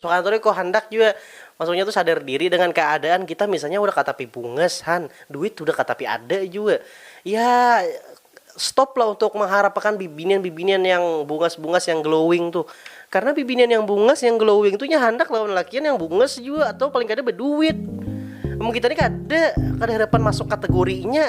Suharto ni ko handak jua maksudnya tu sadar diri dengan keadaan kita misalnya udah katapi bungas han duit udah katapi ada jua ya stop lah untuk mengharap akan bibinian bibinian yang bungas bungas yang glowing tu karena bibinian yang bungas yang glowing tu nya handak lawan lalakian yang bungas jua atau paling kada beduit amun kita ni kada kada harapan masuk kategori nya.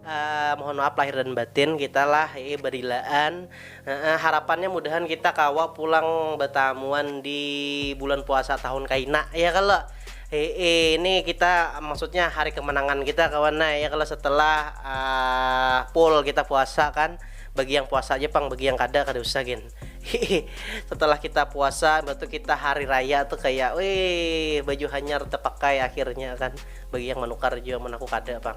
Uh, mohon maaf lahir dan batin kita lah eh, berilaan uh, uh, harapannya mudahan kita kawa pulang betamuan di bulan puasa tahun kaina ya kalau eh, eh, ini kita maksudnya hari kemenangan kita kawan nah ya kalau setelah uh, full kita puasa kan bagi yang puasa aja pang bagi yang kada kada usah gen setelah kita puasa batu kita hari raya tuh kayak wih baju hanyar terpakai akhirnya kan bagi yang menukar juga menaku kada pang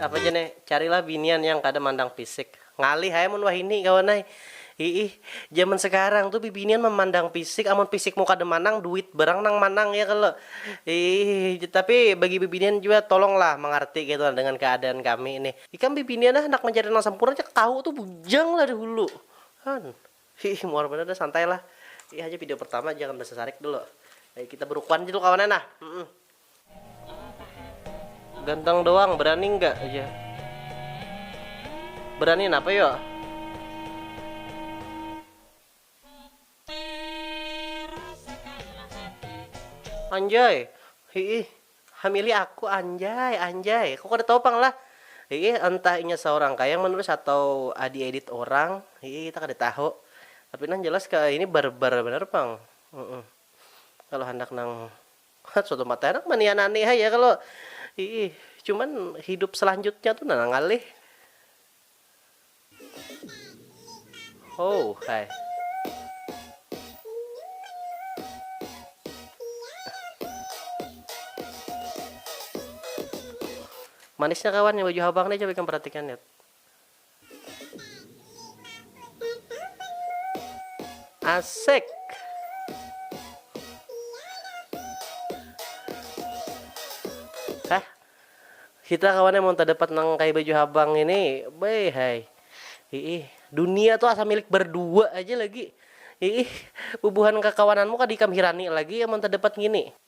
Apa jar nih, carilah binian yang kada mandang fisik. Ngalih ai mun wahini kawan ai. Hiih, zaman sekarang tuh bibinian memandang fisik, amun fisikmu kada manang, duit barang nang manang ya kalo. Hiih, tapi bagi bibinian jua tolonglah mangarti kaytu nah dengan keadaan kami nih. Ikam bibinian nah handak mancari nang sampurna cak tahu tuh bujang lah dahulu. Han. Hiih, muar banar dah, santai lah. Ini haja video pertama, jangan basasarik dulu. Kita berukun aja dulu kawan ai nah. Ganteng doang, berani enggak aja? Berani napa yo? Anjay, hiih, hamili aku anjay, anjay, aku kada tahu pang lah, hiih, entah inya saurang kah yang menulis atau di edit orang, hiih, kita kada tahu, tapi nang jelas kaya ini barbar banar pang, huuh, kalo handak nang. Suatu mata handak manianani haja kalo iih cuman hidup selanjutnya tu nah ngalih. Houh hai. Manisnya kawan yang baju habang nih coba ikam perhatikan yet. Asik. Hah? Kita kawannya mau dapat nang kayak baju habang ini, bay hai. Ih, dunia tuh asa milik berdua aja lagi. Ih, bubuhan kakawananmu kada ikam hirani lagi ya mau dapat ngini.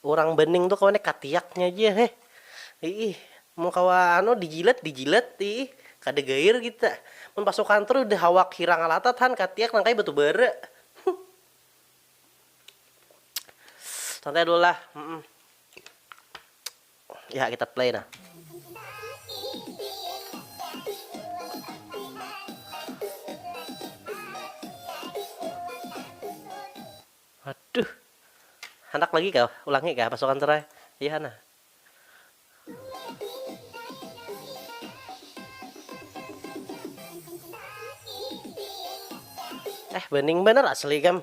Urang bening tu kawan katiaknya ja heh iih mun kawa anu dijilat dijilat iih kada gair kita mun pasukan tu udah awak hirang alatat han katiak nang kaya batu bara santai dulu lah humm ya kita play nah. Waduh. Handak lagi kah? Ulangi kah pasukan serai? Iya nah. Eh bening banar asli kam.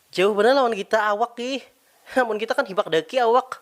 Jauh banar lawan kita awak ih. Amun kita kan hibak daki awak.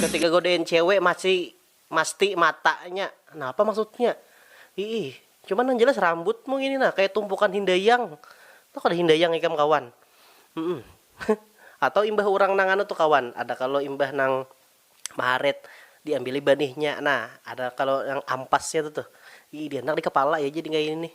Ketika godain cewek masih masti matanya. Nah apa maksudnya? Iih, cuman nang jelas rambutmu ini nah kaya tumpukan hindayang. Tahu kada hindayang ikam kawan? Humm. Atau imbah urang nang anu tu kawan, ada kalo imbah nang maharit diambili banihnya nah ada kalo nang ampasnya tu tuh. Iih dihandak di kepala ya jadi kaya ini nih.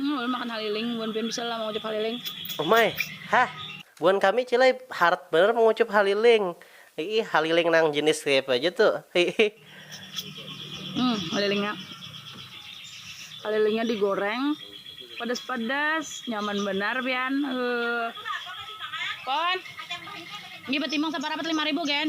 Hmm, ulun makan haliling, buan pian bisa lah mangucup haliling. Umai, hah, buan kami cilai harat banar mangucup haliling. Hiih, haliling nang jinis kayapa ja tu, hiih. Hmm, halilingnya, halilingnya digoreng, padas-padas, nyaman banar pian, heuh. Pon, ini batimang saparapat lima ribu, Gen.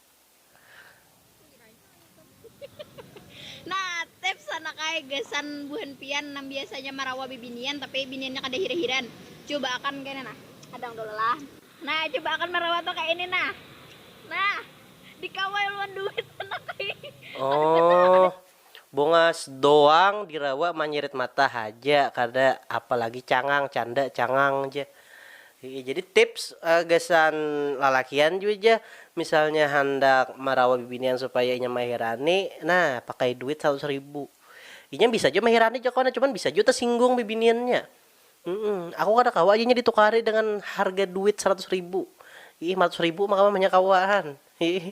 Nah, tips anak ai gasan buhan pian nang biasanya marawa bibinian tapi biniannya kada hir-hiran, cuba akan kaya ini nah, hadang dulu lah, nah cuba akan marawa tu kaya ini nah, nah dikawal wan duit anak ai, kada banar. Bungas doang dirawa manyirit mata haja kada apa lagi cangang canda cangang ja ii jadi tips gasan lalakian jua ja misalnya handak marawa bibinian supaya inya mahirani nah pakai duit saratus ribu inya bisa jua mahirani jakon cuman bisa jua tasinggung bibiniannya aku kada kawa ja inya ditukari dengan harga duit saratus ribu ii maratus ribu mah kawa mahnya kawaan ii.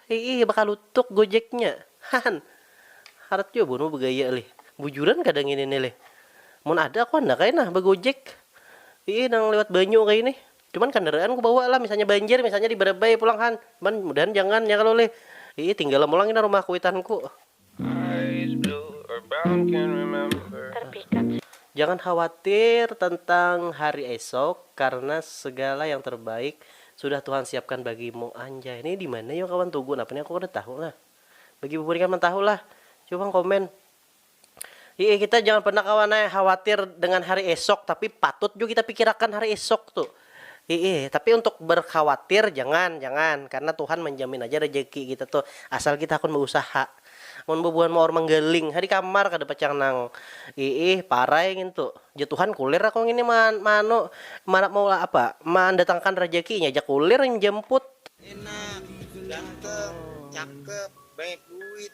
Hiih bakalutuk gojeknya. Hahan. Harat jua bunuh begaya lih. Bujuran kada ngini nih lih. Mun ada aku handak ai nah bagojek. Hiih nang liwat banyu kaya ini. Cuman kandaraan ku bawa lah misalnya banjir misalnya di Barabai pulang han. Cuman mudahan jangan ya kalo lih. Hiih tinggalam pulang ini rumah kuitanku. Jangan khawatir tentang hari esok karena segala yang terbaik sudah Tuhan siapkan bagimu anjay nih dimana yo kawan tugu napa nih aku kada tahu nah bagi bubuhannya nang tahu lah coba pang komen yee kita jangan pernah kawan ai khawatir dengan hari esok tapi patut jua kita pikirakan hari esok tuh. Hiih, tapi untuk berkhawatir jangan, jangan, karena Tuhan manjamin aja rejeki kita tuh, asal kita hakun bausaha. Mun bubuhan maor manggaling ha di kamar kada pacang nang iih, parai ngintu. Jar Tuhan, kulir aku ngini ma maanu ma maulah apa, mandatangkan rejeki, inya ja kulir manjamput. Enak, ganteng, cakep, banyak duit.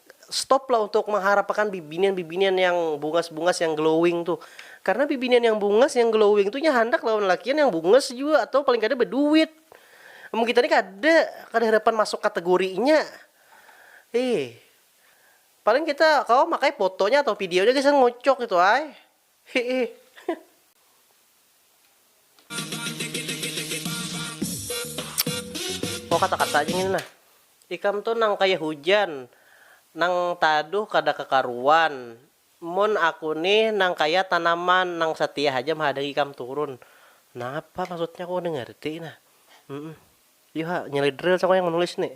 stop lah untuk mengharapakan bibinian-bibinian yang bungas-bungas yang glowing tuh. Karena bibinian yang bungas yang glowing tuh nya handak lawan lalakian yang bungas jua atau paling kada baduit. Amun kita ni kada, kada harapan masuk kategorinya. Ih. Paling kita kawa makai fotonya atau videonya gasan ngocok itu ai. Oh kata-kata aja ngini nah. Ikam tu nang kaya hujan, nang taduh kada kakaruan. Mun aku nih nang kaya tanaman nang satia haja mahadangi ikam turun. Napa maksudnya aku kada ngarti nah. Yu ha, nyelidril cakung yang manulis nih.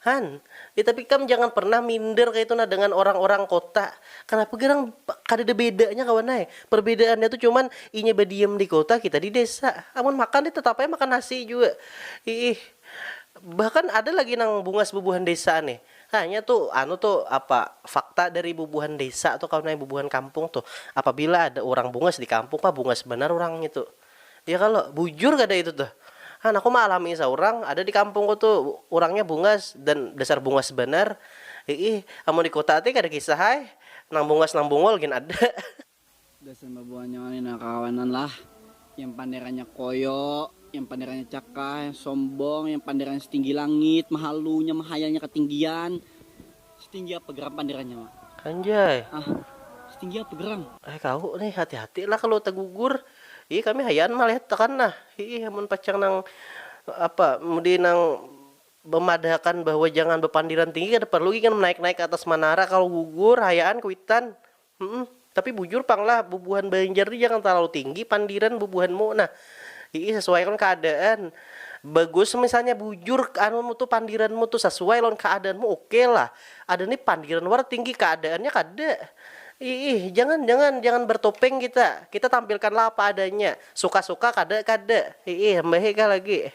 Han, eh tapi ikam jangan pernah minder kaya itu nah dengan orang-orang kota. Kanapa garang kadada bedanya kawan ai. Perbedaannya tu cuman inya badiam di kota, kita di desa. Amun makan nih tetap ai makan nasi jua. Iih. Bahkan ada lagi nang bungas bubuhan desa nih. Hah, nya tu anu tu apa fakta dari bubuhan desa tu kawan ai, bubuhan kampung tu. Apabila ada urang bungas di kampung pah bungas banar urang ngitu. Iya kalo, bujur kada itu tuh. Han, aku maalami saurang, ada di kampungku tu, urangnya bungas, dan dasar bungas banar. Hiih, amun di kuta ti kada kisah ai, nang bungas nang bungul gin ada. Gasan babuhannya ngini nah kakawanan lah, yang panderannya koyo, yang panderannya cakah, yang sombong, yang panderannya setinggi langit, mahalunya, mahayalnya katinggian, Setinggi apa geram panderannya ma. Anjay. Ah setinggi apa geram. Eh kahu nih hati hati lah kalu tagugur ih kami hayaan malihat akan nah hiih amun pacang nang apa mudi nang bamadahakan bahwa jangan bapandiran tinggi kada parlu gin naik naik kaatas manara kalu gugur hayaan kuitan Humm, tapi bujur pang lah bubuhan banjar ni jangan talalu tinggi pandiran bubuhan mu nah, hiih sasuai lawan keadaan, bagus misalnya bujur anu mu tu pandiran mu tu sasuai lawan keadaan mu ok lah, ada ni pandiran wara tinggi keadaan nya kada, hiih jangan jangan jangan bertopeng kita, kita tampilkan lah apa adanya, suka suka kada kada, hiih mbahikah lagi.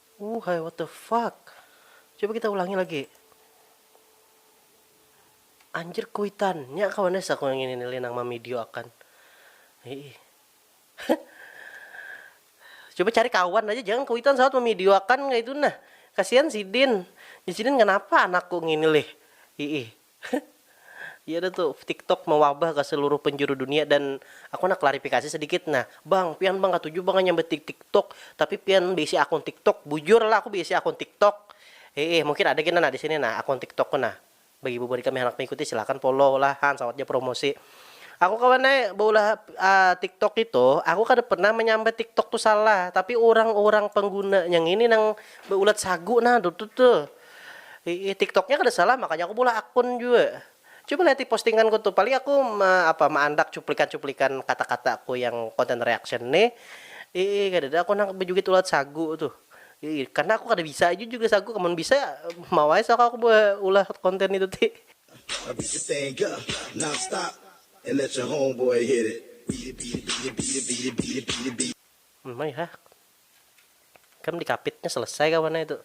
Ooh hai what the fuck coba kita ulangi lagi anjir kuitan nya kawan ya saku yang ini nili nang mamidio akan Hei. coba cari kawan aja jangan kuitan saat mamidio akan nggak itu nah kasihan sidin ya sidin kenapa anakku ngini lih Hei. Heh. Iya dah tu, tiktok mawabah ka seluruh penjuru dunia dan aku handak klarifikasi sedikit nah. Bang, pian bang katuju bang hanyar betik tiktok, tapi pian beisi akun tiktok, bujur lah aku beisi akun tiktok. Heeh, mungkin ada kena nah di sini nah akun tiktok ku nah. Bagi bubuhan ikam yang handak mengikuti silakan follow lah han sawat ja promosi. Aku kawan ai beulah tiktok itu, aku kada pernah menyambat tiktok tu salah, tapi urang-urang penggunanya ngini nang beulat sagu nah dutu tuh. Iih tiktoknya kada salah makanya aku meulah akun jua. Coba liati postinganku tuh paling aku me apa meandak cuplikan-cuplikan kata-kataku yang content reaction nih. Iih kadada aku nang bejugit ulat sagu tuh. Iih karna aku kada bisa jua juga sagu amun bisa mau ai suaka aku be ulah konten itu ti. Maihaak. Kam dikapitnya selesai kawan ai tu.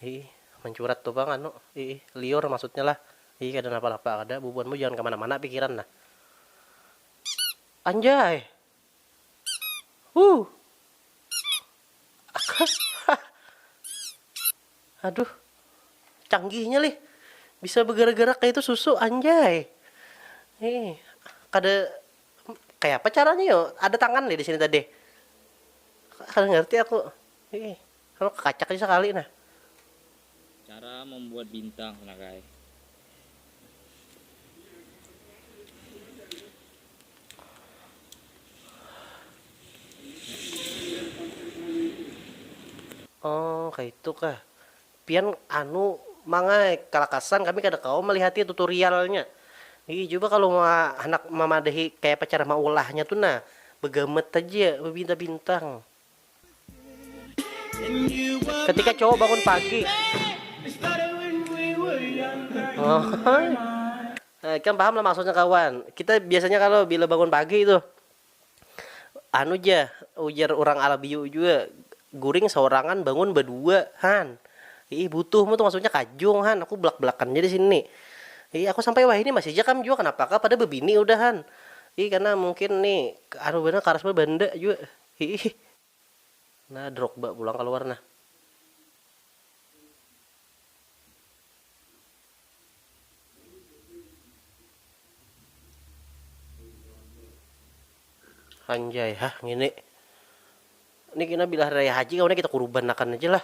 Iih, mancurat tu pang anu, iih, liur maksudnya lah. Iih, kada napa-napa kada, bubuhanmu jangan kamana-mana pikiran nah. Anjay! Huh! Hah! Aduh, canggihnya lih. Bisa begerak-gerak kaya itu susu, anjay! Iih, kada Kayapa caranya yu? Ada tangan lih disini tadi. Kada ngarti aku. Ih, anu kakacak aja sakali nah. Cara membuat bintang nah guys. Oh, kaitu kah. Pian anu mangai kalakasan kami kada kawa malihati tutorialnya Ii cuba kalu ma handak mamadahi kayapa cara maulahnya tu nah bagamet haja babintang bintang. Ketika cowok bangun pagi Ohoy ikam paham lah maksudnya kawan kita biasanya kalu bila bangun pagi tuh. Anu ja, ujar urang Alabio jua, guring saurangan bangun badua, han. Iih butuh mu tu maksudnya kajung, han, aku belak-belakan ja di sini ni. Iih aku sampai wahini masih ja kam jua kanapa kah pada babini udah, han. Iih karna mungkin ni anu banar karas banar banda jua. Iih. Nah Drogba pulang kaluar nah. Anjay hah ngini. Ini kena bila hari raya haji kawan kita kurubanakan aja lah.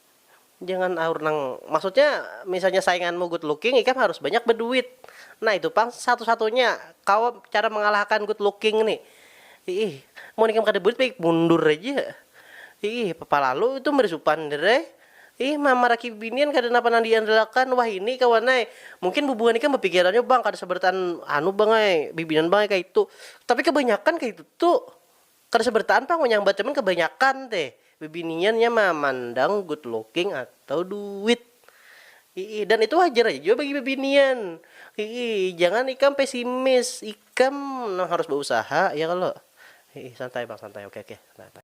Jangan aur nang, maksudnya misalnya sainganmu good looking ikam harus banyak beduit, nah itu pang satu satunya kawa cara mengalahakan good looking nih, iih mun ikam kada buit baik mundur haja, iih palalu itu meri supan diri ai, iih mamaraki binian kada napa nang diandalakan wahini kawan ai, mungkin bubuhan ikam bapikirannya bang kada sabarataan anu bang ai bibinan bang ai kaitu, tapi kabanyakan kaitu tu. Kada sabarataan pang wayah bacaman kabanyakan te bibinian nya mamandang good looking atau duit. Hiih dan itu wajar haja jua bagi bibinian. Hiih jangan ikam pesimis, ikam nang harus bausaha ya kalo. Hiih santai pang santai oke oke santai santai.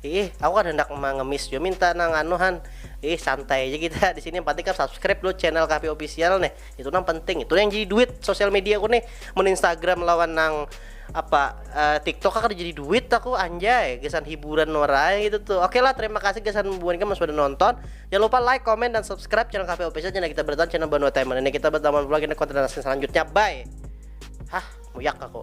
Ih, aku kan hendak mengemis juga minta nang anu han. Ih, santai aja kita di sini yang penting kan subscribe lo channel Kafe Official nih. Itu nang penting. Itu yang jadi duit sosial media aku nih. Men Instagram lawan nang apa uh, TikTok kan jadi duit aku anjay gesan hiburan orang gitu tuh oke lah terima kasih gesan buan kamu sudah nonton jangan lupa like comment dan subscribe channel Kafe Official channel kita bertahan channel Banua Timer ini kita bertahan vlog ini konten selanjutnya bye hah muyak aku